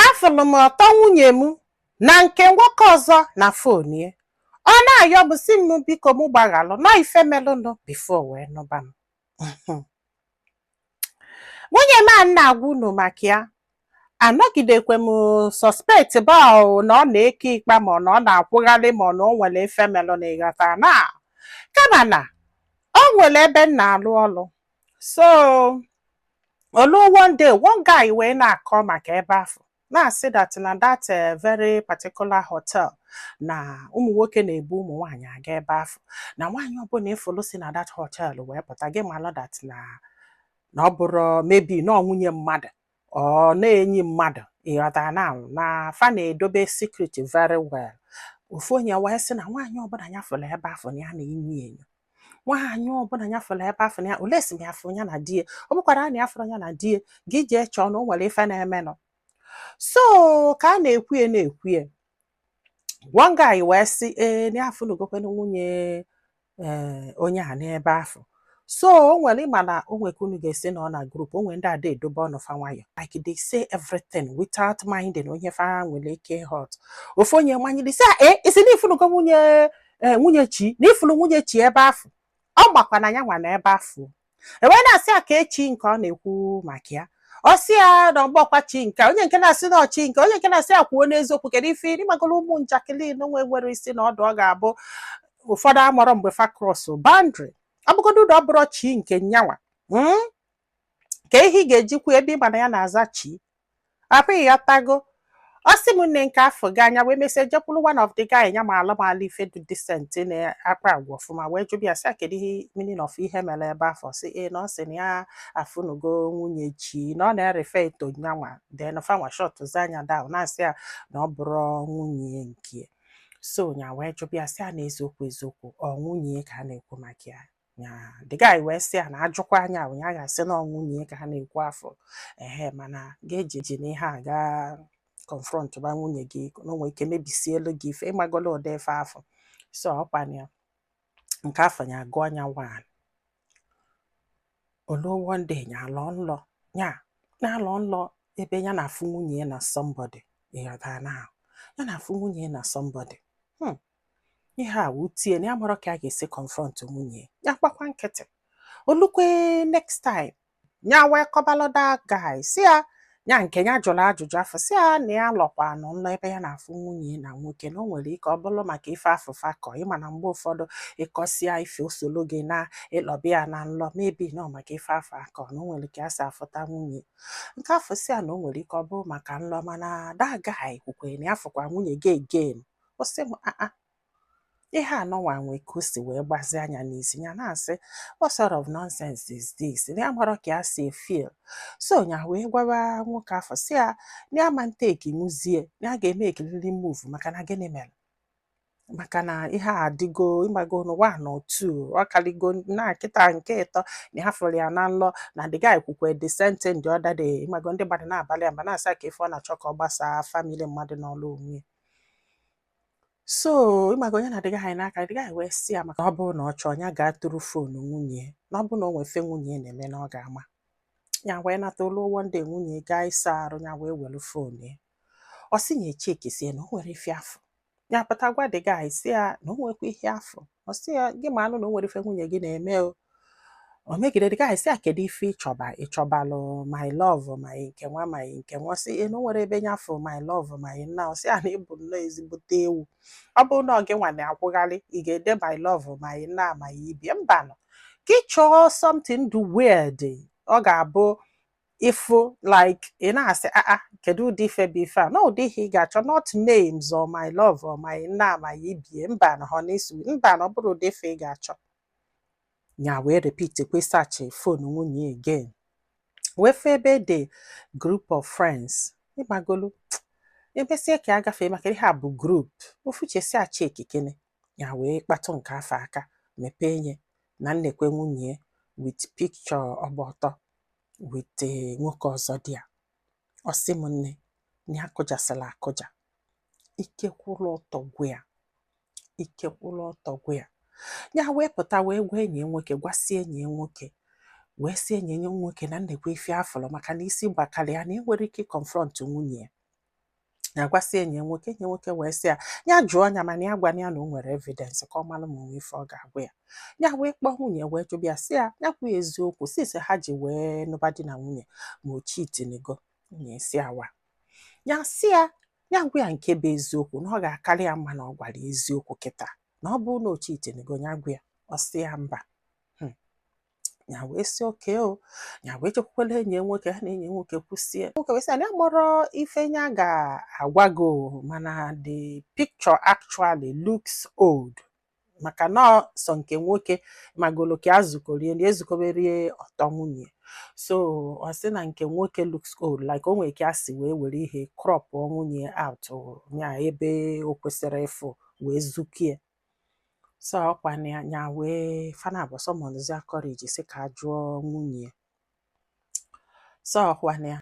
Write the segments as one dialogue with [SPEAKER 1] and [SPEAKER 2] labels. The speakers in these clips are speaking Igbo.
[SPEAKER 1] afụlụ m ọtọ nwunye m na nke nwoke ọzọ na phone ya ọ na-ayọ m si m biko m gbaghalụ na ọ ife melụnụ before o wee nụba m nwunye m a m na-agwa unu maka ya anọgidekwe m suspect ba na ọ na-eke ikpa ma ọ na ọ na-akwụgharị ma ọ na o nwere ife melụnụ ịghọta na kama na o nwere ebe m na-alụ ọlụ so o luo one day one guy wee na-akọ maka ebe afụ na-asị that na that eh, very particular hotel na ụmụ nwoke na-ebu ụmụ nwaanyị aga ebe afụ na nwaanyị ọbụla ị fụlụ si na that hotel wee pụta gị malụ that na ọ bụrụ maybe na ọ nwunye mmadụ or na enyi mmadụ ịghọta na na fa na-edobe secret very well ofu onye wee sị na nwaanyị ọbụla ya fụrụ ebe afụ na ya na-enyo enyo nwaanyị ọbụla ya fụrụ ebe afụ na unless m ya fụ ya na di ya ọ bụkwara na ya afụrọ ya na di ya gị jee chọọ na o nwere ife na-emenụ so ka a na-ekwuye na-ekwuye one guy wee sị ee na ya afụlugokwa nwunye ee eh, onye a n'ebe afụ so o nwere ịma na o nwe ka unu ga-esi nọ na group o nwere ndị ada edobe ọnụ fa nwayọ like they say everything without minding onye fa nwere ike hurt ofu onye manyere si e eh, ị sị na ị fụnugo nwunye eh, nwunye chi na ị fụlụ nwunye chi ebe afụ ọ makwa na ya nwa nọ ebe afụ e wee na-asị ya kee chi nke ọ na-ekwu maka ya ọ sị ya na ọ bụrọkwa chi nke onye nke na-asị na ọ chi nke onye nke na-asị ya kwuo n'eziokwu kedu ife ị magolu ụmụ njakịrị na-enwerọ isi na ọdụ ọ ga-abụ ụfọdụ amarọ mgbe fa cross boundary ọ bụgodu na ọ bụrọ chi nke nyanwa hmm? kee ihe ị ga-eji kwuo ebe ị ma na ya na-aza chi apụ ịghọtago ọ sị m na nke afụ gaa nya wee mesịa jekwuru one of the guy nya ma malụ ife dị decent na-akpa agwa ọfụma wee jụbịa ya sị ya kedu ihe meaning of ihe mere ebe afụ sị ee na ọ sị na ya afụnugo nwunye chi na ọ na-e-refer to nyanwa then fanwa shut zi nya down na-asị ya na ọ bụrọ nwunye nke so nya wee jụbịa sị ya na eziokwu eziokwu ọ nwunye ka a na-ekwu maka ya ya the guy wee sị ya na a jụkwaa nya ya ga-asị na ọ nwunye ya ka a na-ekwu afụ ehe mana gị ejina ihe a gaa confront ba nwunye gị na o nwe ike mebisielu gị ife ị magolu ụdị ife afụ so ọ kwana nke afụ ya agụọ nya one o luo one day ya alọ nlọ ya na-alọ nlọ ebe ya na-afụ nwunye ya na somebody ịghọta na ya na-afụ nwunye ya na somebody hmm. ihe a wutie na ya amarọ ka a ga-esi confront nwunye ya gbakwa nkịtị olukwe next time ya wee kọbalụ the guy si ya ya nke ya jụrụ ajụjụ afọ si ya na ya lọkwanụ nlọ ebe ya na-afụ nwunye na nwoke na o nwere ike ọ bụrụ maka ife afụ fa kọ ị ma na mgbe ụfọdụ ị kọsịa ife o solo gị na ị lọba ya na nlọ maybe na ọ maka ife afọ a kọ na o nwere ike ya si afụta nwunye nke afọ si ya na o nwere ike ọ bụrụ maka nlọ mana that guy kwukwere na ya fụkwa nwunye gị again ọ sị m aa ihe anọnwa nwe ka o si wee gbazia nya n'isi ya na-asị what sort of nonsense is this na ya amarọ ka ya si feel so ya wee gwaba nwoke afọ si ya na ya ama ntekinwuzie na ya ga-emekiriri move maka na gịnị mere maka na ihe a adịgo ịmago n'ụwa na otu ọ kaligo na kịta nke ịtọ na ha fụrụ ya na nlọ na the guy kwukwe the same thing the other day ịmago ndị mmadụ na-abalụ ya mba na-asị ya ka ife ọ na-achọ ka ọ gbasaa family mmadụ nọlụ onwe ya so ịmago nya na the guy na-akọ the guy wee si ya maka ọ bụrụ na ọ chọọ ya gaa tụrụ foonu nwunye na ọ bụrụ na o nwe ife nwunye na-eme na ọ ga-ama ya wee nata olu one day nwunye gaa ịsa arụ ya wee were foonu ya ọ sị ya echekisie na o nwerọ ife ya fọ ya pụta gwa the guy si ya na o nwekwa ihe ya fọ ọ sị ya gị maanụ na o nwere ife nwunye gị na-eme o omegide the guy sị ya kedu ife ịchọba ịchọbalụ my love my nke nwa my nke nwa sị ya na o nwerọ ebe nya fụ my love my nna ọ sị ya na ị bụ nnọọ ezigbote ewu ọ bụrụ na ọ gị nwa na-akwụgharị ị ga-ede my love my nna my ibie mbanụ ka ị chọọ something dụ weird ọ ga-abụ ị fụ like ị na-asị aa ah, ah, kedu ụdị ife bụ ife a na ụdị ihe ị ga-achọ not names or my love or my nna my ibie mbanụ honey sweet mbanụ ọ bụrọ ụdị ife ị ga-achọ ya wee repeat kwe search phone nwunye again wee fụ ebe e de group of friends ịmagolu emesie ka ya gafee maka ihe a bụ group ofu uche sị ya chekikene ya wee kpatụ nke afọ aka mepee nye na nekwe nwunye with picture ọ gba ọtọ with eh, nwoke ọzọ dị ya ọ sị m nne na ya kụjasịla akụja ike kwụrụ ọtọ gwụ ya ike kwụrụ ọtọ gwụ ya ya wee pụta wee gwa enyi ya nwoke gwasị enyi ya nwoke wee sị enyi ya nwoke na nekwe ife ya fọrọ maka na isi gbakara ya na enwerọ ike iconfront nwunye ya ya gwasị enyi ya nwoke enyi ya nwoke wee sị ya ya jụọ ya mana ya gwana ya na o nwere evidence ka ọ mara ma o nwe ife ọ ga-agwa ya ya wee kpọọ nwunye wee jụba ya sị ya ya kwuo eziokwu since ha ji wee nụba di na nwunye ma o chitinigo nwunye sị ya waa ya sị ya ya gwa ya nke bụ eziokwu na ọ ga-akarị ya mma na ọ gwara eziokwu kịta na ọ bụrụ na o chitinigo ya gwa ya ọ sị ya mba ya wee sị okay o ya wee jekwukwala enyi nwoke ha na enyi nwoke kwusie nwoke wee sị na ya amarọ ife ya ga-agwa gị mana the picture actually looks old maka na sọ nke nwoke magolo ka ezukorie na ezukoberie ọtọ nwunye so ọ sị na nke nwoke looks old like o nwere ka a si wee were ihe crop nwunye out ya ebe o kwesịrị ịfụ wee zukie so ọkwa na ya nya wee fa naabọ summonuzia courage sị ka a jụọ nwunye ya so ọkwa na ya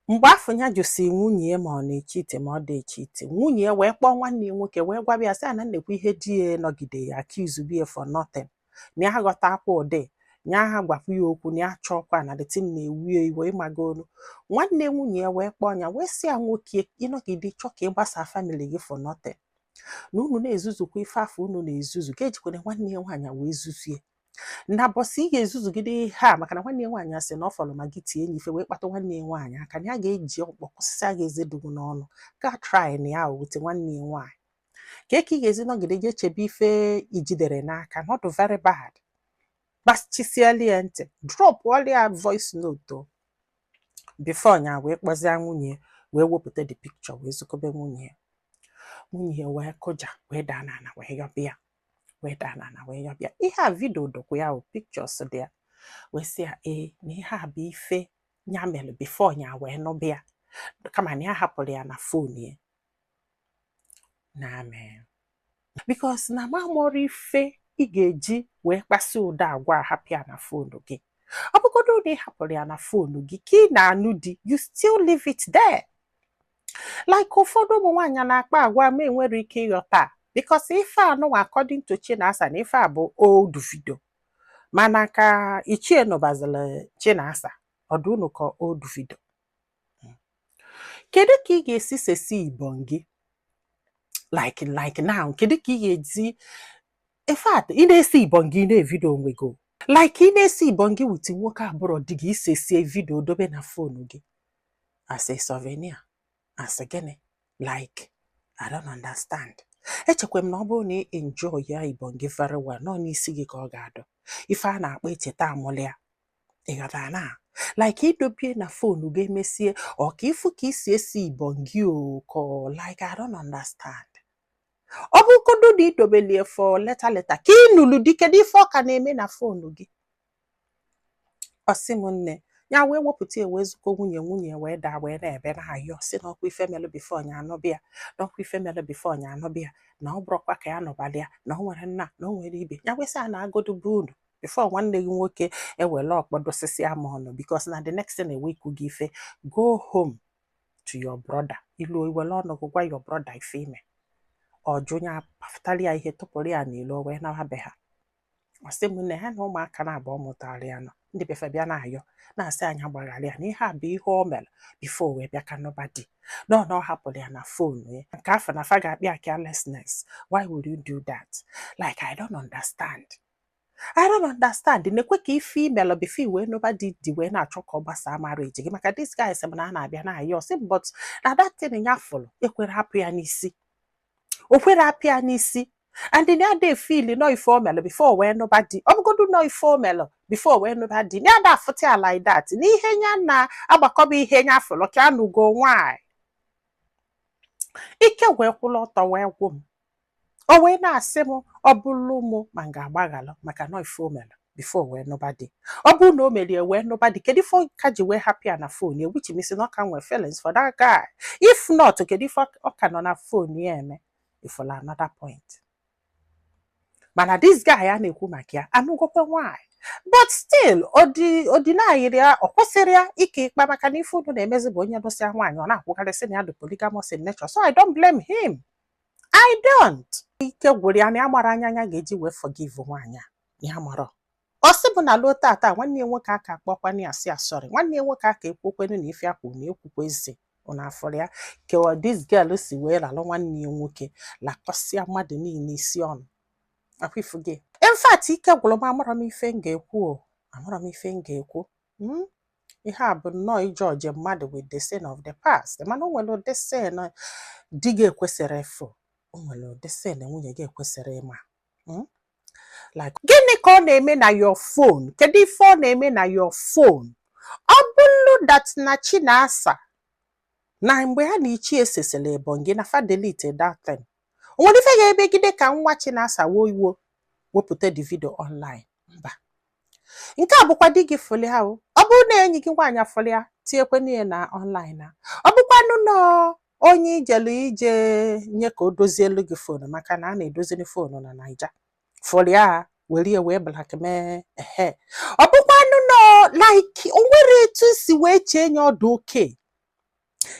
[SPEAKER 1] mgbe afụ ya jụsi nwunye ya ma ọ na-echeat ma ọ dị echeat nwunye ya wee kpọọ nwanne ya nwoke wee gwaba ya sị a na nekwa ihe di ya nọgide ya accusebie for nothing na ya aghọtakwọ di na ya gwakwa ya okwu na ya chọọkwa na the thing na-ewie iwe ị magonu nwanne nwunye ya wee kpọọ ya wee sị ya nwoke ị nọgide chọọ ka ị gbasaa family gị for nothing na unu na-ezuzukwa ife afụ unu na-ezuzu gị ejikwana nwanne ya nwaanyị wee zuzie na ụbọsị ị ga-ezuzugide ihe a maka na nwanne ya nwaanyị asị na ọ fọrọ ma gị tie nya ife wee kpata nwanne ya nwaanyị aka na ya ga-eji ọkpọ kụsịsịa gị eze dụ gị n'ọnụ gị try na ya wute nwanne ya nwaanyị kee ka ị ga-esi nọgide gị echebe ife i jiderọ n'aka na ọ dụ very bad gbachisiela ya ntị dropụlịa voice note o before nya wee kpọzie nwunye ya wee wepụta the picture wee zukobe nwunye ya nwunye ya wee kụja wee daa n'ana wee yọbịa wee daa n'ana wee yọbịa ihe a video dọkwu ya o pictures dị ya wee sị ya ee na ihe a bụ ife ya mere before nya wee nụbịa kama na ya hapụrụ ya na phone ya na I mean because na m amarọ ife ị ga-eji wee kpasị ụdị agwa hapụ ya na phone gị ọ bụgodu na ị hapụrụ ya na phone gị ka ị na-anụ di you still leave it there like ụfọdụ ụmụ nwaanyị na-akpa agwa m enwerọ ike ịghọta because ife a nụnwa according to Chinasa na ife a bụ old video mana ka ichie nụbazila Chinasa ọ dụ unu ka old video kedu ka ị ga-esi sesi ibon gị like like now kedu ka ị ga-esi in fact ị na-esi ibon gị na-evideo onwe gị like ị na-esi ibon gị with nwoke abụrọ di gị i sesie video dobe na phone gị as a souvenir as gịnị like I don't understand echekwa m na ọ bụrụ na ị enjoy ya ibon gị very well na ọ n'isi gị ka ọ ga-adọ ife a na-akpọ echeta amụlịa ị ghọtara na like i dobie na phone gị emesie ọ ka ị fụ ka i si esi ibon gị oko like I don't understand ọ bụrụgodu na i dobelie for later later ka ị nụrụ di kedu ife ọ ka na-eme na phone gị ọ sị m na ya wee wepụta ya wee zuko nwunye nwunye wee daa wee na-ebe na-ayọ sị na ọkwa ife melụ before nya anụbịa na ọkwa ife melụ before nya anụbịa na ọ bụrọkwa ka ya nụbalịa na o nwerọ na na o nwerọ ibe ya wee sị ya naagodu be unu before nwanne gị nwoke ewere ọkpọ dosisia m ọnụ because na the next thing ewe ikwu gị ife go home to your brother i lu i were ọnụ gị gwa your brother ife i me ọ sị nya pafụtara ya ihe tụpụrụ ya n'ilo wee nawa be ha ọ sị m na ha na ụmụaka naabọ ọ mụtara ya na ndị be fa bịa na-ayọ na-asị nya gbaghara ya na ihe a bụ ihe o mere before wee bịa ka nụba di na ọ hapụrụ ya na phone ya nke afụ na fa ga-akpọ ya carelessness why would you do that like i don't understand I don't understand nekwe ka ife i melụ before i wee nụba di di wee na-achọ ka ọ gbasaa marriage gị maka this guy sị m na a na-abịa na-ayọ sị m but na that thing ya fụrụ ekwerọ apụ ya n'isi o kwerọ apụ ya n'isi and na ada efeel na ife o melụ before wee nụba di ọ bụgodu na ife o melụ before wee nụba di na ada afụta ya like that na ihe ya na-agbakọba ihe ya fụrụ ka anụgo nwaanyị ike wee kwụrụ ọtọ wee gwụ m o wee na-asị m ọ bụrụ mụ ma m ga-agbaghalụ maka na ife o mere before wee nụba di ọ bụrụ na o mere ya wee nụba di kedu ife ọ ka ji wee hapụ ya na phone ya which means na ọ ka nwee feelings for that guy if not kedu ife ọ- ọ ka nọ na phone ya eme ị fụlụ another point mana this guy a na-ekwu maka ya anụgokwe nwaanyị but still ọ de- ọ denyrị ya ọ kwụsịrị ya ike ikpa maka na ife unu na-emezi bụ onye nụsịa nwaanyị ọ na-akwụgharị sị na ya dị polygamous in nature so I don't blame him I don't. Ike gwụrụ ya na ya amarọ anya nya ga-eji wee forgive nwaanyị a ya amarọ. Ọ sị bụ na luo taata nwanne ya nwoke aka akpọkwana ya sị ya sorry nwanne ya nwoke aka ekwukwenu na ife akwụ na ekwukwa ezi ụna afọrọ ya kewa this girl si wee ralụ nwanne ya nwoke lakọsịa mmadụ niile isi ọnụ ọkwa ị fụgo ya. In fact ike gwụrụ m amarọ m ife m ga-ekwu o amarọ m ife m ga-ekwu. Hmm? ihe a bụ nnọọ ịjudge mmadụ with the sin of the past mana o nwere ụdị sin di gị ekwesịrị ịfụ o nwere ụdị sin nwunye gị ekwesịrị ịma hmm? like gịnị ka ọ na-eme na your phone kedu ife ọ na-eme na your phone ọ bụrụ that na Chinasa na mgbe ha na ichie sesịrị ebonyi na fa delete that thing o nwere ife ga-emegide ka nwa Chinasa wo iwo wepụta the video online mba nke a bụkwa di gị fụlụ ya o ọ bụrụ na enyi gị nwaanyị fụlụ ya tinyekwenụ ya na online na ọ bụkwanụ na onye i jelu je nye ka o dozielu gị fonu maka na a na-edoziri fonu na naija fụrụ ya were ya wee blackmail ehe ọ bụkwanụ na like o nwere etu si wee chee nye ọ dụ okay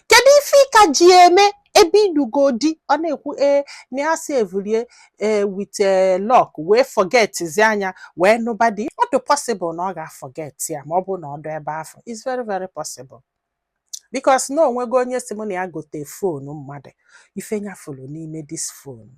[SPEAKER 1] kedu ife ị ka ji eme ebe ị nụgo di ọ na-ekwu ee na ya savelụ ya ee with lock wee forgetizi ya nya wee nụba di ọ dị possible na ọ ga-aforget ya ma ọ bụ na ọ dụ ebe afụ it's very very possible because na o nwego onye sị mụ na ya gote fonu mmadụ ife nya fụrụ n'ime this phone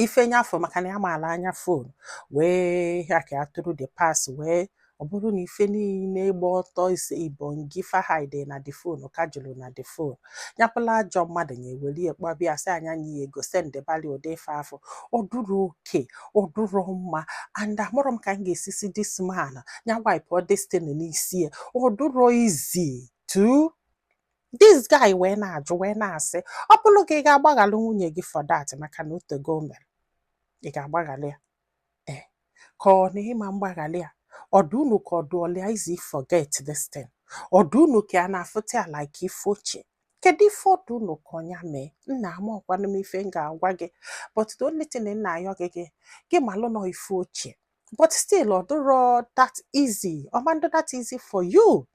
[SPEAKER 1] ife nyafụ maka na ya maala anya fon wee ya ka ya tụrụ the password ọ bụrụ na ife niile ịgba ọtọ ise ibongi fa hide na the fon ka juru na the fon nya bụlụ ajọ mmadụ ya ewere ya kpọba sị a nye nya ego sendebali ụdị ife afụ ọ dụrọ okay ọ dụrọ mma and amarọ m ka m ga-esi si this man ya wipụọ this thing n'isi ya ọ dụrọ easy to this guy wee na-ajụ wee na-asị ọ bụrụ gị ị ga-agbaghalụ nwunye gị for that maka na o tego o mere ị ga-agbaghalị ya ee eh, ka ọ na ị ma mgbaghalị ya ọ dụ unu ka ọ dụlụ ya easy forget this thing ọ dụ unu ka a na-afụta ya like ife ochie kedu ife ọ dụ unu ka nya mee nna amarọkwanụ m ife m ga-agwa gị but the only thing m na-ayọ gị gị gị malụ na ọ ife ochie but still ọ dịrọ that easy ọ ma ndụ that easy for you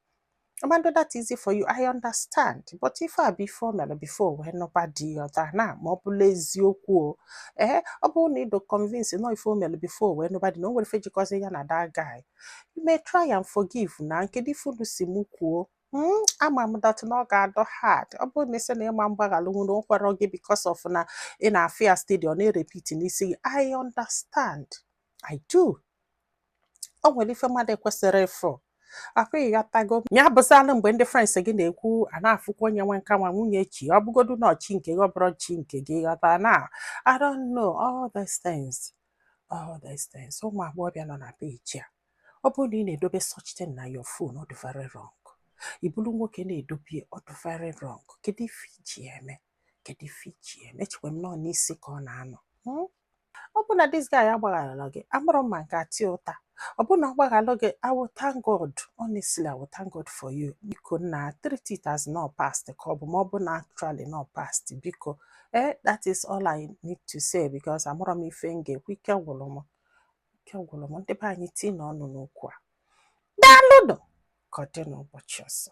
[SPEAKER 1] ọ ma ndụ that easy for you I understand but ife a bụ ife o mere before wee nụba di ya ọta na ma ọ bụlụ eziokwu o ee ọ bụrụ na ị dụ convinced na ọ ife o mere before wee nụba di na o nwerọ ife jikọzi ya na that guy you may try and forgive nna kedu ife unu si mụ kwuo Hmm, ama m that na ọ ga-adụ hard ọ bụrụ na ị sị na ị ma mgbaghalụ na o kwerọ gị because of na ị na-afụ ya steady ọ na-erepeat n'isi gị I understand I do o nwere ife mmadụ ekwesịrọ ịfụ afụ ị ghọtago ya bụzalụ mgbe ndị friends gị na-ekwu a na-afụkwa onye nwe nka nwa nwunye chi ọ bụgodu na ọ chi nke gị ọ bụrọ chi nke gị ghọta na I don't know all these things all these things ụmụ agbọghọbịa nọ na peji a ọ bụrụ na ị na-edobe such thing na your phone ọ dị very wrong ị bụrụ nwoke na-edobe ọ dị very wrong kedu ife i ji ya eme kedu ife i ji ya eme echekwa m na ọ n'isi ka ọ na-anọ hmm? ọ bụ na this guy agbaghalọ gị amarọ m ma m ga-ata ya ụta ọ bụ na ọ gbaghalụ gị I will thank God honestly I will thank God for you biko nna treat it as na ọ past ka ọ bụ ma ọ bụ na actually na ọ past biko eh that is all I need to say because amarọ m ife m ga-ekwu ike gwụrụ m ike gwụrụ m ndị be anyị tinye ọnụ n'okwu a daalụnụ ka ọ dị n'ụbọchị ọzọ